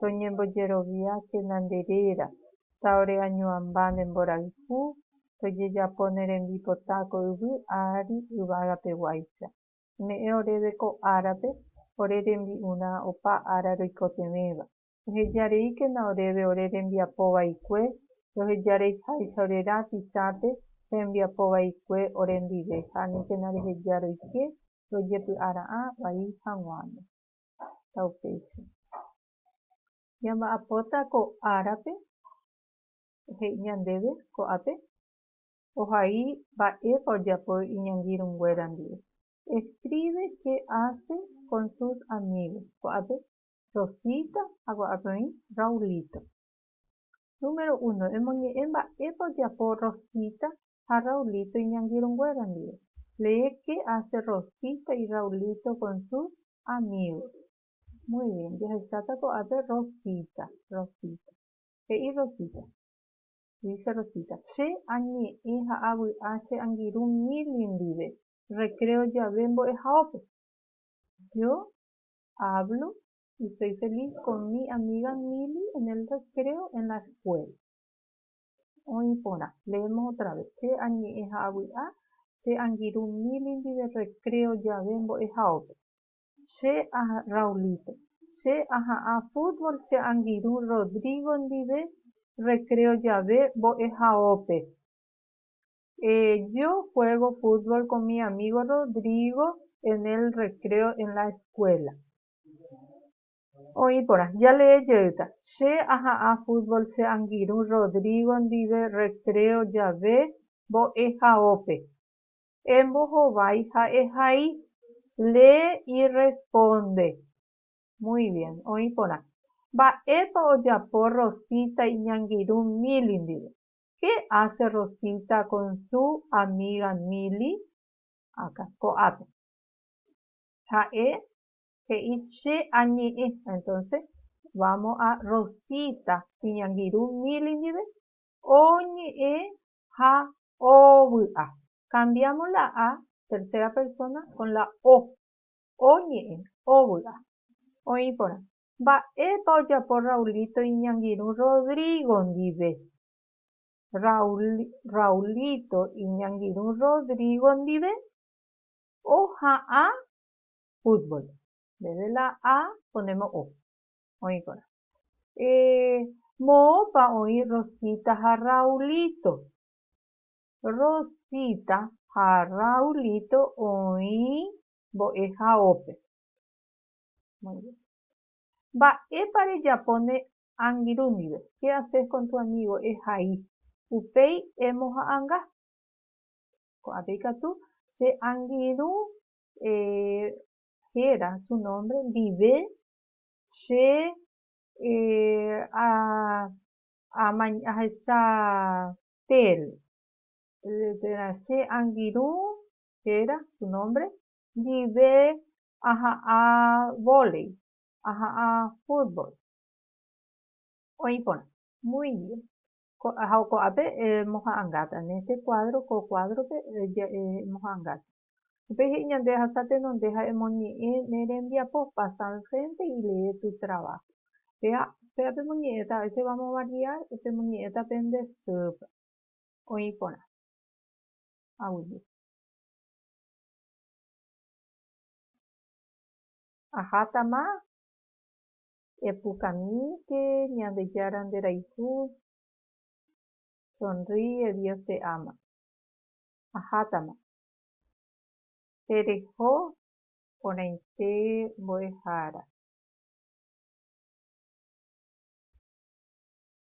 toñembojeroviákena nde réra, taoreañuãmba ne mborayhu, tojejapo ne rembipota ko yvy ári yvagapeguáicha. Ome'ẽ oréve ko árape ore rembi'urã opa ára roikotevẽva. Ehejareíkena oréve ore rembiapo vaikue, rohejareiháicha ore rã Tisãpe rembiapo vaikue orendive ha aníkena reheja roike rojepy'ara'ã vai haguãme. ha upéicha. Ñamba'apóta ko árape he'i ñandéve ko'ápe ohai mba'épa ojapo iñangirũnguéra ndive. Escribe qué hace con sus amigos, ko'ápe Rosita ha ko'ápe oĩ Raulito. Número uno, emoñe'ẽ mba'épa ojapo Rosita ha Raulito iñangirũnguéra ndive. Lee qué hace Rosita y Raulito con sus amigos. Muy bien. Jahecháta ko'ápe Rosita. Rosita. He'i Rosita. Dice Rosita, Che añe'ẽ ha avy'a che angirũ Milly ndive recreo jave mbo'ehaópe. Yo hablo y soy feliz con mi amiga Milly en el recreo en la escuela. Oĩ porã. Leemos otra vez. Che añe'ẽ ha avy'a che angirũ Milly ndive recreo jave mbo'ehaópe. Che a Raulito. Che aha'ã fútbol che angirũ Rodrigo ndive recreo jave mbo'ehaópe. Yo juego fútbol con mi amigo Rodrigo en el recreo en la escuela. Oĩ porã, jalee jeýta, Che aha'ã fútbol che angirũ Rodrigo ndive recreo jave mbo'ehaópe. Embohovái ha ehai. Lee y responde. Muy bien. Oĩ porã, Mba'épa ojapo Rosita iñangirũ Mili ndive? Qué hace Rosita con su amiga Mili? Akã, ko'ápe. Ha'e He'i, Che añe'ẽ. Entonce, vamos a Rosita iñangirũ Milly ndive, oñe'ẽ ha ovy'a. Cambiamos la a, tercera persona, con la o. Oñe'ẽ, ovy'a. Oĩ porã, Mba'épa ojapo Raulito iñangirũ Rodrigo ndive? Raúl, Raulito iñangirũ Rodrigo ndive oha'ã fútbol. Ndéve la A ko nde mo'o. Oĩkorã. Eh, moõpa oĩ Rosita ha Raulito? Rosita ha Raulito oĩ mbo'ehaópe. Muy bien. Mba'épa rejapo ne angirũ ndive? ¿Qué haces con tu amigo? Ehai. Upéi emoha'anga. Ko'ãpe ikatu che angirũ eh, héra su nómbre ndive, che eh, a, amañ, ahecha térã, térã che angirũ, héra su nómbre, ndive aha'ã vólei, aha'ã fútbol. Oĩ porã. Muy bien. Ha ko'ápe emoha'ãngáta, en este cuadro, ko kuádrope emoha'ãngáta. Upéi he'i ñande rehasa tenonde ha emoñe'ẽ ne rembiapo, pasa al frente y lee tu trabajo. Péva, péva pemoñe'ẽta, a veces vamos a variar, pemoñe'ẽta pende sýpe. Oĩ porã. Aguije. Ahátama. Epukamíke Ñandejára nderayhu Sonríe Dios te ama Ahátama Tereho porãite mbo'ehára.